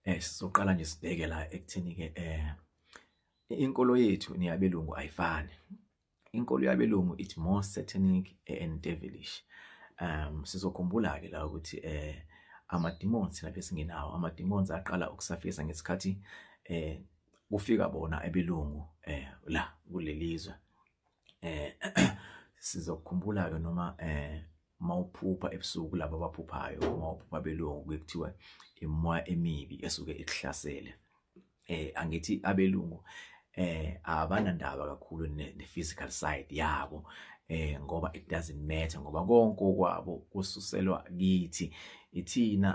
eh sizoqala nje sibheke la ekutheni ke eh inkolo yethu neyabelungu ayifani inkolo yabelungu it more satanic and devilish um sizokhumbula ke la ukuthi eh amademons lapho singenawo amademons aqala ukusafisa ngesikhathi eh kufika bona ebelungu eh la kulelizwe eh sizokhumbula ke noma eh uma uphupha ebusuku laba abaphuphayo uma uphupha belungu kuye kuthiwa imoya emibi esuke ikuhlasele eh angithi abelungu eh abanandaba kakhulu ne physical side yabo eh ngoba it doesn't matter ngoba konke okwabo kususelwa kithi ithina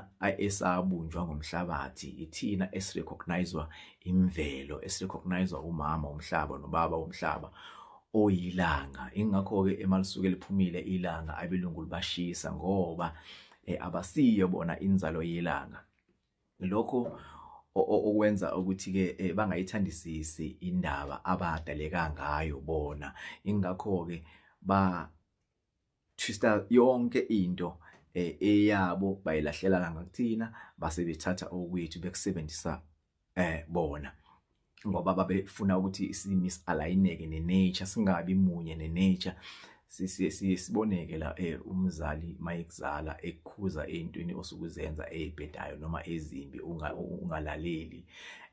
esabunjwa ngomhlabathi ithina esirecognizwa imvelo esirecognizwa umama umhlaba nobaba umhlaba oyilanga ingakho-ke ema lisuke liphumile ilanga abelungu libashisa ngoba eh, abasiyo bona inzalo yelanga lokho okwenza ukuthi-ke eh, bangayithandisisi indaba abadaleka ngayo bona ingakho-ke ba Twister yonke into eh, eyabo bayilahlela la ngakuthina base bethatha okwethu bekusebenzisa eh bona ngoba babefuna ukuthi simis alayineke ne nature singabi munye ne nature siboneke la eh, umzali mayekuzala ekukhuza entweni osukuzenza ezibhedayo noma ezimbi ungalaleli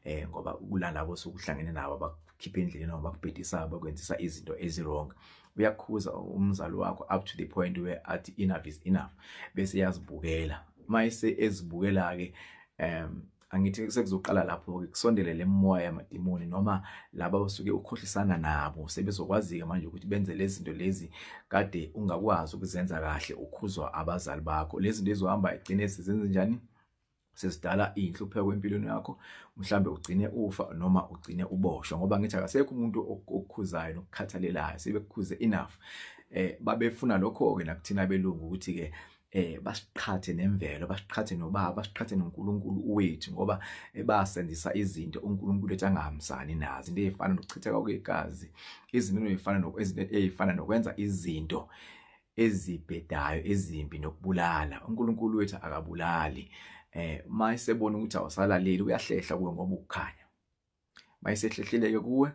eh ngoba kulana bosukuhlangene nabo khipha endleleni noma bakubhedisa bakwenzisa izinto eziwrong uyakhuza umzali wakho up to the point where athi enough is enough bese yazibukela mayise ezibukela ke um angithi sekuzoqala lapho ke kusondele lemoya yamadimoni noma laba osuke ukhohlisana nabo sebezokwazi ke manje ukuthi benze lezi zinto lezi kade ungakwazi ukuzenza kahle ukhuzwa abazali bakho lezi zinto ezohamba egcine sezenze njani sesidala inhlupheko empilweni yakho mhlambe ugcine ufa noma ugcine uboshwa ngoba ngithi akasekho umuntu okukhuzayo nokukhathalelayo sebekukhuze enough eh babefuna lokho ke nakuthina belungu ukuthi ke eh basiqhathe nemvelo basiqhathe nobaba basiqhathe noNkulunkulu wethu ngoba ebasenzisa izinto uNkulunkulu ethi angahambisani nazo into ezifana nokuchitheka kwegazi izinto ezifana nokwezinto ezifana nokwenza izinto ezibhedayo ezimbi nokubulala uNkulunkulu wethu akabulali eh mayisebona ukuthi awusalaleli uyahlehla kuwe ngoba ukukhanya mayisehlehleleke kuwe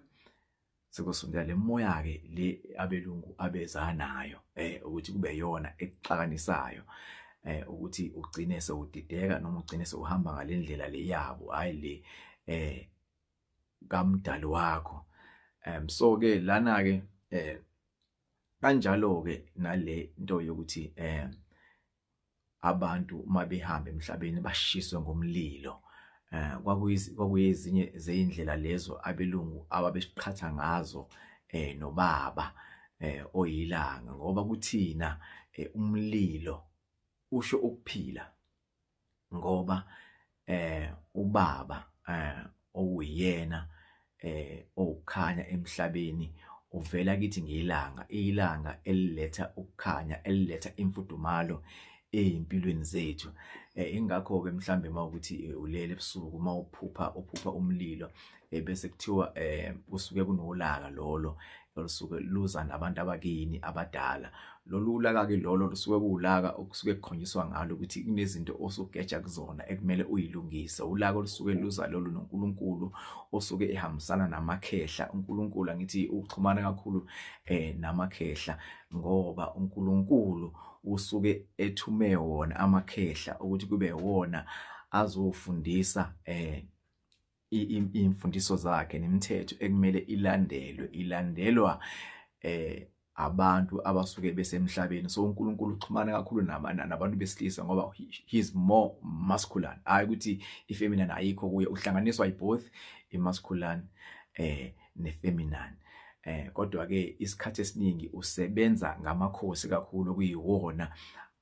sekusondela lemoya ke le abelungu abezanayo eh ukuthi kube yona exakanisayo eh ukuthi ugcine sewudideka noma ugcine sewuhamba ngalendlela le yabo hayi le eh kamdali wakho um so ke lana ke eh kanjalo ke nale nto yokuthi eh abantu mabehamba emhlabeni bashiswe ngomlilo eh kwakuyizinye zeindlela lezo abelungu ababesiqhatha ngazo eh nobaba eh oyilanga ngoba kuthina eh, umlilo usho ukuphila ngoba eh ubaba eh okuyena eh okukhanya emhlabeni uvela kithi ngilanga ilanga eliletha ukukhanya eliletha imfudumalo ezimpilweni zethu eh, ingakho ke mhlambe mawukuthi eh, ulele ebusuku mawuphupha uphupha umlilo eh, bese kuthiwa eh kusuke kunolaka lolo olusuke luza nabantu abakini abadala lolu ulaka ke lolo lusuke kuwulaka okusuke kukhonyiswa ngalo ukuthi kunezinto osugeja kuzona ekumele uyilungise ulaka olusuke luza lolu noNkulunkulu osuke ehambisana namakhehla uNkulunkulu angithi uxhumana kakhulu eh namakhehla ngoba uNkulunkulu usuke ethume wona amakhehla ukuthi kube wona azofundisa eh imfundiso zakhe nemithetho ekumele ilandelwe ilandelwa eh abantu abasuke besemhlabeni so uNkulunkulu uxhumana kakhulu nabantu besilisa ngoba he's more masculine hayi ukuthi ifeminine ayikho kuye uhlanganiswa iboth imasculine eh nefeminine eh kodwa ke isikhathi esiningi usebenza ngamakhosi kakhulu kuyiwona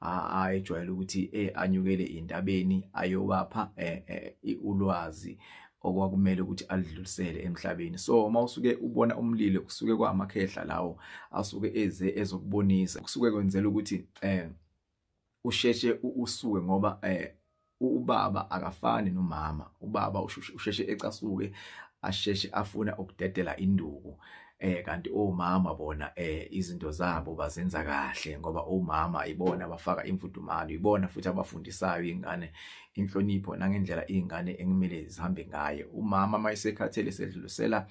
ayejwayele ukuthi eh anyukele indabeni ayobapha eh, eh, ulwazi okwakumele ukuthi alidlulisele emhlabeni so uma usuke ubona umlilo kusuke kwamakhehla lawo asuke eze ezokubonisa kusuke kwenzela ukuthi eh usheshe usuke ngoba eh ubaba akafani nomama ubaba usheshe ecasuke asheshe afuna ukudedela induku eh kanti omama bona eh izinto zabo bazenza kahle ngoba omama ibona abafaka imfudumalo ibona futhi abafundisayo ingane inhlonipho nangendlela izingane ekumele zihambe ngayo umama mayisekhathele sedlulisela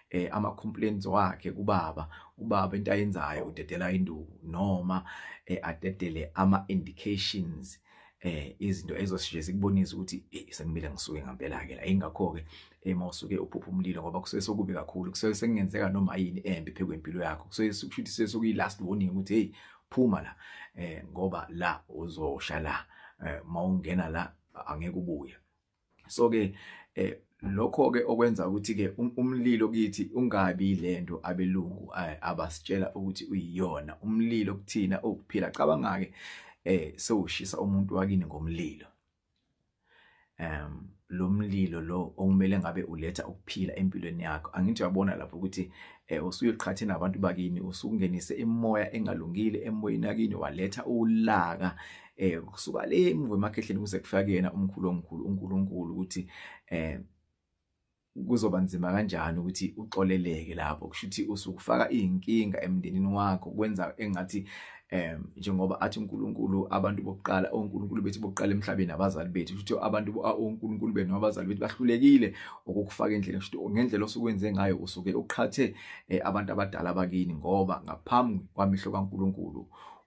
eh ama complaints wakhe kubaba ubaba into ayenzayo udedela induku noma eh, adedele ama indications eh izinto ezosije zikubonisa ukuthi eh, sekumile ngisuke ngempela ke la ingakho ke ema eh, usuke uphupha umlilo ngoba kusuke sokubi kakhulu kusuke sekungenzeka noma yini embi phekwe impilo yakho kusuke kushuthi sesokuyi last warning ukuthi hey phuma la eh ngoba la uzosha la eh mawungena la angeke ubuye so ke eh lokho ke okwenza ukuthi ke um, umlilo kithi ungabi lento abelungu eh, abasitshela ukuthi uyiyona umlilo kuthina okuphila cabanga ke eh sewushisa umuntu wakini ngomlilo um lo mlilo lo okumele ngabe uletha ukuphila empilweni yakho angithi uyabona lapho ukuthi eh usuyiqhathe nabantu bakini usukungenise imoya engalungile emoyeni yakini waletha ulaka eh kusuka le emuva emakhehleni kuze kufika kuyena umkhulu omkhulu uNkulunkulu ukuthi eh kuzoba nzima kanjani ukuthi uxoleleke lapho kusho ukuthi usukufaka izinkinga emndenini wakho kwenza engathi em njengoba athi uNkulunkulu abantu bokuqala oNkulunkulu bethi bokuqala emhlabeni abazali bethu ukuthi abantu oNkulunkulu benu abazali bethu bahlulekile ukukufaka endlini ukuthi ngendlela osukwenze ngayo usuke uqhathe eh, abantu abadala bakini ngoba ngaphambi kwamehlo kaNkulunkulu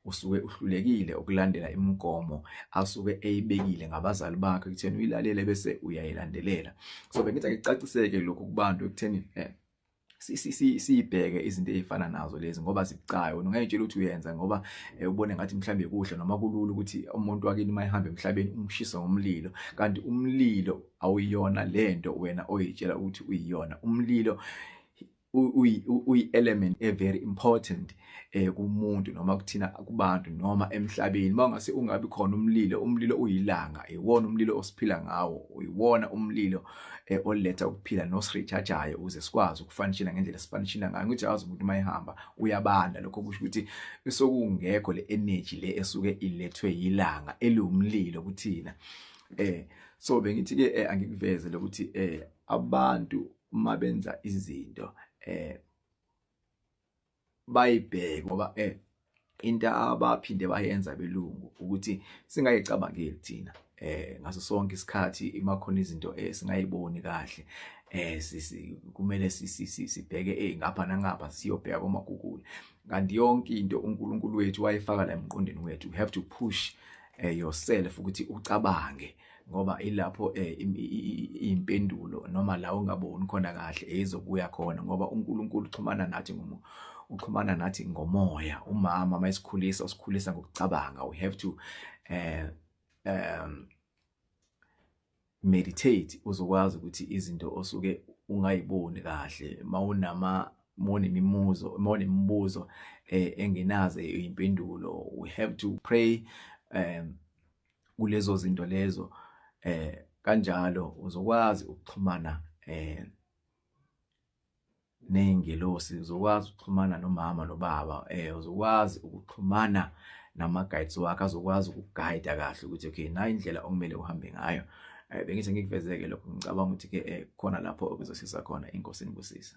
usuke uhlulekile ukulandela imigomo asuke eyibekile ngabazali bakhe ekutheni uyilalele bese uyayilandelela so bengithi akucaciseke lokhu kubantu ekutheni eh, siyibheke izinto ezifana nazo lezi ngoba zibucayo ungayitshela ukuthi uyenza ngoba eh, ubone ngathi mhlambe kuhle noma kulula ukuthi umuntu wakini mayihambe emhlabeni umshisa ngomlilo kanti umlilo awuyona lento wena oyitshela ukuthi uyiyona umlilo uyi-element e-very important eh kumuntu noma kuthina kubantu noma emhlabeni mawungase ungabi khona umlilo umlilo uyilanga iwona umlilo osiphila ngawo uyiwona umlilo eh, oletha ukuphila nosrechargeayo ukuze sikwazi ukufanishela ngendlela sifanishela ngayo ukuthi awazi umuntu mayihamba uyabanda lokho kusho ukuthi sokungekho le energy le esuke ilethwe yilanga eliwumlilo kuthina eh so bengithi ke eh, angikuveze lokuthi eh abantu uma benza izinto eh bayibheke ngoba eh into abaphinde bayenza belungu ukuthi singayicabangeli thina eh ngaso sonke isikhathi imakhona izinto esingayiboni eh, kahle eh sisi kumele sibheke eh ngapha nangapha siyobheka koma Google kanti yonke into uNkulunkulu wethu wayifaka la emqondweni wethu you have to push eh, yourself ukuthi ucabange ngoba ilapho eh, impendulo noma la ungaboni khona kahle eyizokuya khona ngoba uNkulunkulu uxhumana nathi ngomo uxhumana nathi ngomoya umama mayisikhulisa usikhulisa ngokucabanga we have to eh um meditate uzokwazi ukuthi izinto osuke ungayiboni kahle mawunama mone imimuzo mone imibuzo eh, engenaze impendulo we have to pray um kulezo zinto lezo eh kanjalo uzokwazi ukuxhumana eh nezingelosi uzokwazi ukuxhumana nomama nobaba eh uzokwazi ukuxhumana nama guides wakhe azokwazi ukuguide kahle ukuthi okay nayi indlela okumele uhambe ngayo eh bengithi ngikuvezeke lokho ngicabanga ukuthi ke eh, khona lapho okuzosiza khona inkosini kusisa